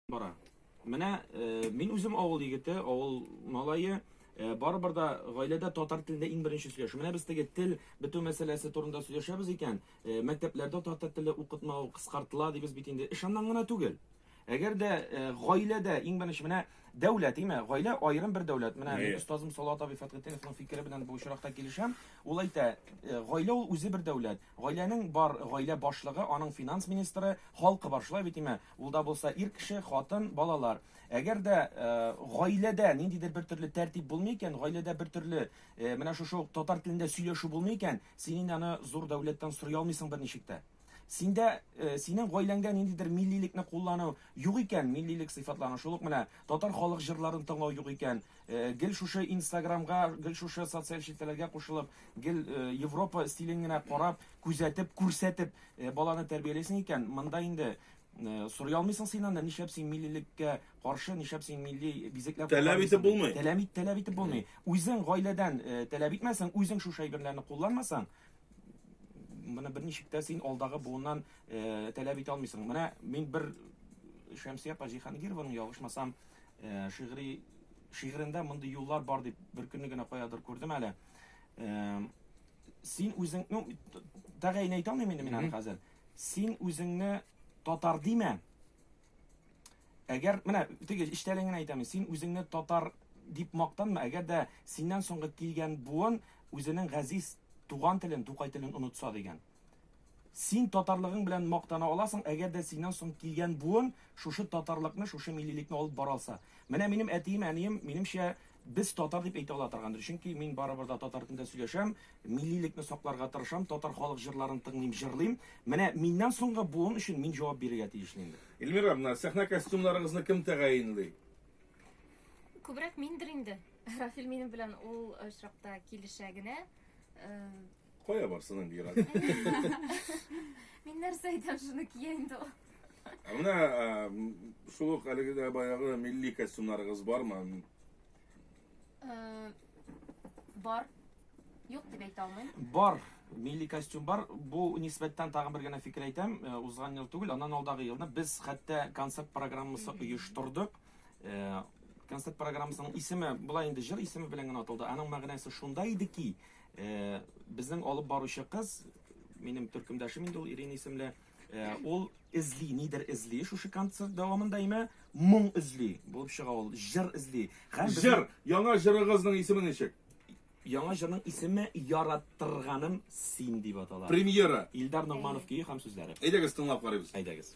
бара. Менә э, мин үзем авыл егете, авыл малае, э, барыбер да гаиләдә татар телендә иң беренче сөйләшү. Менә без теге тел бетү мәсьәләсе турында сөйләшәбез икән, э, мәктәпләрдә татар теле укытмау кыскартыла дибез бит инде. Эш аннан гына түгел. Әгәр дә э, гаиләдә иң беренче менә дәүләт, име? Гаилә аерым бер дәүләт. Менә мин остазым Салават абый Фәтхетдиновның фикере белән бу очракта килешәм. Ул әйтә, э, гаилә ул үзе бер дәүләт. Гаиләнең бар гаилә башлыгы, аның финанс министры, халкы бар. Шулай бит, име? Ул да булса ир кеше, хатын, балалар. Әгәр дә гаиләдә ниндидер бер төрле тәртип булмый икән, гаиләдә бер төрле менә шушы ук татар телендә сөйләшү булмый икән, син инде аны зур дәүләттән сорый алмыйсың берничек тә. Синдә, синең гаиләңдә ниндидер миллилекне куллану юк икән, миллилек сыйфатларын, шул ук менә татар халык җырларын тыңлау юк икән, гел шушы инстаграмга, гел шушы социаль челтәрләргә кушылып, гел Европа стилен генә карап, Күзәтеп, күрсәтеп баланы тәрбиялисең икән, монда инде сорый алмыйсың син анда, нишләп син миллилеккә каршы, нишләп син милли бизекләр Таләп итеп булмый. Таләп ит, таләп итеп булмый. Үзең гаиләдән таләп итмәсәң, үзең шушы әйберләрне кулланмасаң, моны берничек тә син алдагы буыннан таләп итә алмыйсың. Менә мин бер Шәмсия апа Җиһангированың ялгышмасам шигъри шигырендә мондый юллар бар дип беркөнне генә каядыр күрдем әле. Син үзең, ну, тәгаен әйтә алмыйм инде мин аны хәзер. Син үзеңне татар димә. Әгәр, менә, теге иштәлеген әйтәм, син үзеңне татар дип мактанма, әгәр дә синнән соңгы килгән буын үзенең газиз туган телен, тукай телен онытса дигән. Син татарлыгың белән мактана аласың, әгәр дә синнән соң килгән буын шушы татарлыкны, шушы миллилекне алып бара алса. Менә минем әтием, әнием, минемчә, без татар дип әйтә ала торгандыр. Чөнки мин барыбер дә татар телендә сөйләшәм, миллилекне сакларга тырышам, татар халык җырларын тыңлыйм, җырлыйм. Менә миннән соңгы буын өчен мин җавап бирергә тиешле инде. Эльмира, менә сәхнә костюмнарыгызны кем тәгаенли? Күбрәк миндер инде. Рафил минем белән ул очракта килешә генә. Кая барсын инде Иран? Мин нәрсә әйтәм, шуны кия инде ул. Ә Менә ә, м, шул ук әлеге дә баягы милли костюмнарыгыз бармы? Э, Бар. Юк дип әйтә алмыйм. Бар, милли костюм бар. Бу нисбәттән тагын бер генә фикер әйтәм. Э, Узган ел түгел, аннан алдагы елны без хәтта концерт программасы оештырдык. Э, Концерт программасының исеме, болай инде җыр исеме белән генә аталды. Аның мәгънәсе шунда иде ки, Безнең алып баручы кыз, минем төркемдәшем инде ул, Ирина исемле, ул эзли, нидер эзли шушы концерт дәвамында, имә моң эзли булып чыга ул, җыр эзли. Җыр! Яңа җырыгызның исеме ничек? Яңа җырның исеме Яратырганым син дип атала. Премьера! Илдар Ногманов көе һәм сүзләре. Әйдәгез, тыңлап карыйбыз. Әйдәгез.